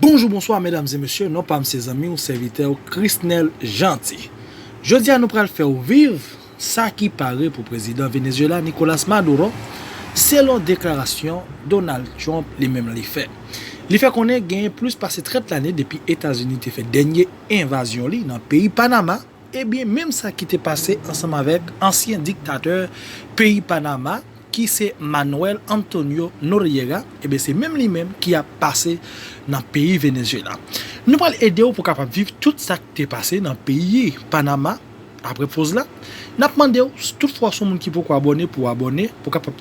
Bonjou bonswa medam e mesye non pam se zanmiw sèvitèw Christnel Jeanty jodia nou pral fèw viv sa ki pare pou prezidan Venezuela Nicolas Maduro selon deklarasyon Donald Trump li menm li fè li fè konnen genyen plis pase 30 lane depi etazini te fè dènye envazyon li nan peyi Panama. Ebyen menm sa ki te pase ansanm avèk ansyen diktatè peyi Panama ki se Manuel Antonio Noriega, ebyen se menm li menm ki ap pase nan peyi Venezuela. Nou pral ede w pou kapab viv tout sa k te pase nan peyi Panama apre poz la. Nap mande w si tout fwa w son moun ki poko abòne pou w abòne pou kapab.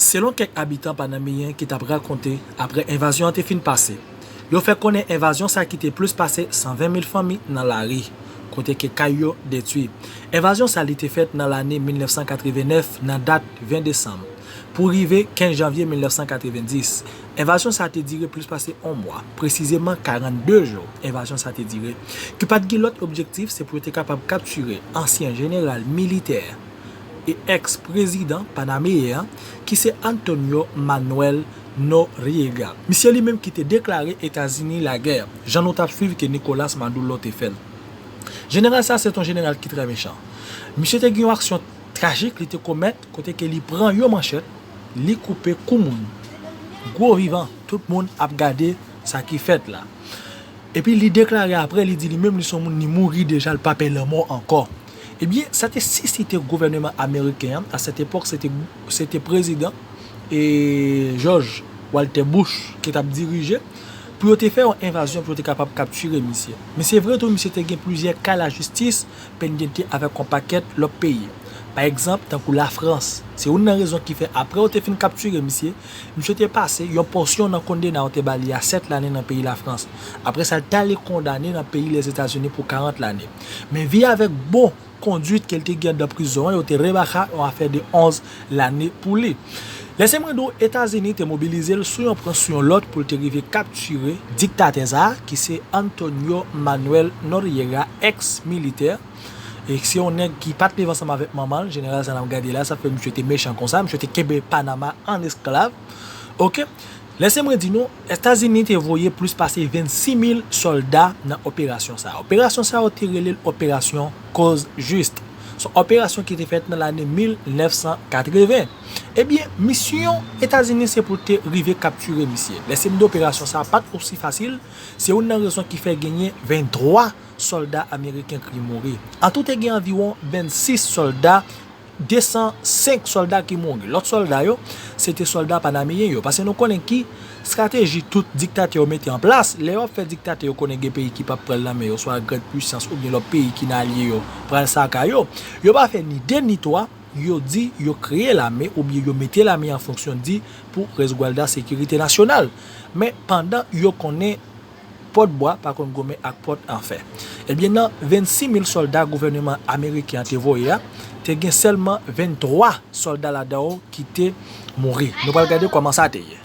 Selon kèk abitan panameyen ki t ap rakonte aprè envazyon an te fin pase, yo fè konnen envazyon sa kite plis pase 120 mil fanmi nan lari, kote ke kay yo detwi. Envazyon sa li te fèt nan lane 1989 nan dat 20 desanm pou rive 15 janvye 1990. Envazyon sa te dire plis pase on mwa, presizeman 42 jou envazyon sa te dire, ki pa t gen lòt objektif se pou yo te kapab kaptire ansyen jeneral militè, e èks prezidan panameyen an ki se Antonio Manuel Noriega. Misye li menm ki te deklare Etazini lagè, jan nou tap swiv ke Nicolas Madullo te fèl. Jeneral sa se t on jeneral ki trè mechan. Misye te gen yon aksyon trajik li te komèt kote ke li pran yon manchèt li koupe kou moun, gwo vivan, tout moun ap gade sa ki fèt la. Epi li deklare aprè li di li menm li s on moun li mouri deja li pa pè lanmò ankò. Ebyen, sa te sisite gouvèneman ameriken an, a sèt epòk se te, se te prezidan e Jòj Waltè Bouch ki t ap dirije, pou yo te fè yon envazyon pou yo te kapab kaptire misye. Men se vre tou misye te gen plizyè ka lajistis pendente avèk yon pakèt lòt peyi. Pa egzanp, tankou Lafrans. Se youn nan rezon ki fè apre yo te fin kaptire misye, Misye te pase yon pòsyon nan kondena yo te ba li a 7 lane nan peyi Lafrans. Apre sa, li t ale kondane nan peyi Lèzetazini pou 40 lane. Men vi avèk bon konduit ke l te gen anndan prizon an, yo te remaka yon afè de 11 lane pou li. Lè se mwen di w Etazini te mobilize l sou yon pran sou yon lòt pou l te rive kaptire diktatè sa a ki se Antonio Manuel Noriega, ex militè, e se yon nèg ki pat leve ansanm avèk manman l jeneral sa nap gade la sa fè misye te mechan konsa misye te kenbe panama an esklav ok lèse mwen di nou etazini te voye plis pase 26 mil sòlda nan operasyon sa operasyon sa yo te rele l operasyon koz jis son operasyon ki te fèt nan lane 1980 ebyen misyon etazini se pou l te rive kaptire misye lèse m di operasyon sa pat osi fasil se youn nan rezon ki fè genyen 23. sòlda ameriken ki mouri. Antou te gen anviwon 26 sòlda, 205 sòlda ki mouri. Lòt sòlda yo, se te sòlda panameyen yo. Pase nou konnen ki strateji tout diktatè yo mete an plas, lè yo ap fè diktatè yo konnen gen peyi ki pap pran nan men yo, swa grand puisans oubyen lòt peyi ki nan alye yo pral saka yo. Yo pa fè ni 2 ni 3, yo di yo kreye lame oubyen yo mete lame an fonksyon di pou resgualda sekirite nasyonal. Men pandan yo konnen. Pòt bwa pa konn goumen ak pòt an fè. Ebyen nan 26 mil sòlda gouvèneman ameriken an te voye a, te gen sèlman 23 sòlda ladan yo ki te mouri. Nou pral gade kòman sa te ye.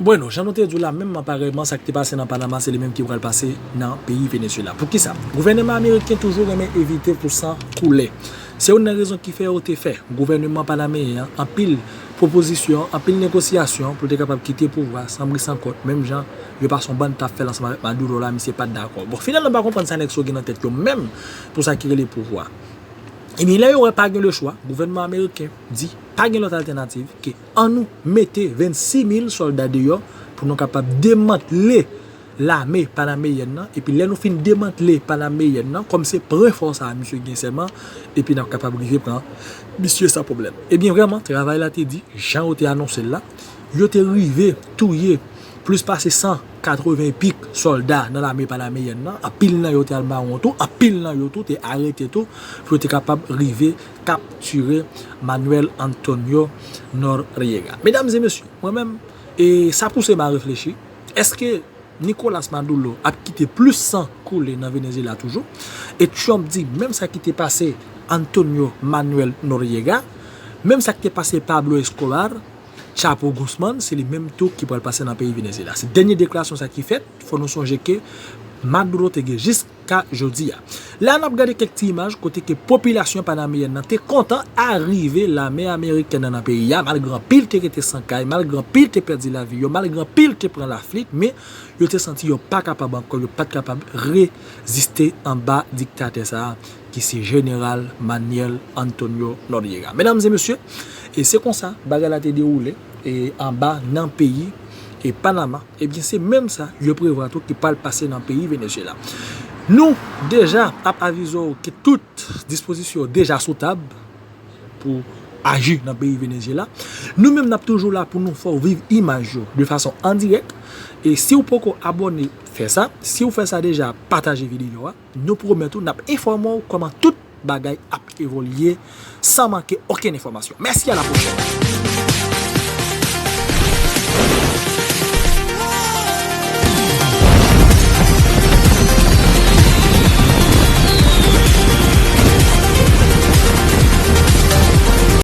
Bueno, jan nou te di w la, menmman parèyman sa ki te pase nan Panama se li menm ki pral pase nan peyi Venezuela. Pou kisa? Gouvèneman ameriken toujou renmen evite pou san koule. Se youn nan rezon ki fè yo te fè gouvèneman panameyen an anpil. pwopozisyon, anpil negosyasyon pou l te kapab kite pouvwa san bri san kont menm jan yon pason band tap fè l ansanm avèk Maduro la misye pat dakò. Bon finalman m pa konprann sa nèg sa yo gen nan tèt yo menm pou sa ki rele pouvwa. Ebyen lè yo wè pa gen lechwa, gouvènman ameriken di pa gen lòt altènativ ke an nou mete 26 mil sòlda deyò pou nou kapab demantle lame panameyenn nan epi lè nou fin demantle panameyenn nan kòm se pwen fò sa misye gen sèlman epi n ap kapab rive pran misye san pwoblèm. Ebyen vrèman travay la te di jan yo te anonse l la, yo te rive touye plis pase 180 epik sòlda nan lame panameyenn nan, anpil nan yo te al mawon tou, anpil nan yo tou te arete tou pou yo te kapab rive kaptire Manuel Antonio Noriega. Medam e mesye, mwen menm e sa pouse m a reflechi. Eske Nicolas Maduro ap kite plis san koule nan Venezyela toujou? E Trump di menm sa ki te pase Antonio Manuel Noriega, menm sa ki te pase Pablo Escobar, Chapo Guzman, se li menm tou ki pral pase nan peyi Venezyela. Se dènye deklarasyon sa ki fèt, fò nou sonje ke Maduro te gen jis. ka jodi a. La nap gade kèk ti imaj kote ke popilasyon panameyèn nan te kontan arive lame amerikèn nan nan peyi a malgre anpil te rete san kay, malgre anpil te pèdi lavi yo, malgre anpil te pran laflit men yo te santi yo pa kapab ankò, yo pat kapab reziste anba diktatè sa a ki se jeneral Manyèl Antonyo Nòryega. Medam e mesye, e se konsa bagay la te dewoule e anba nan peyi e Panama. Ebyen se menm sa yo prevwa tou ki pral pase nan peyi Venezyela. Nou deja ap avize w ke tout dispozisyon yo deja sou tab pou aji nan peyi Venezyela. Nou menm nap toujou la pou nou fè w viv imaj yo de fason an dirèk. E si w poko abòne, fè sa. Si w fè sa deja, pataje videyo a. Nou pwomèt ou n ap enfòme w kòman tout bagay ap evolye san manke okenn enfòmasyon. Mèsi a la pwochèn.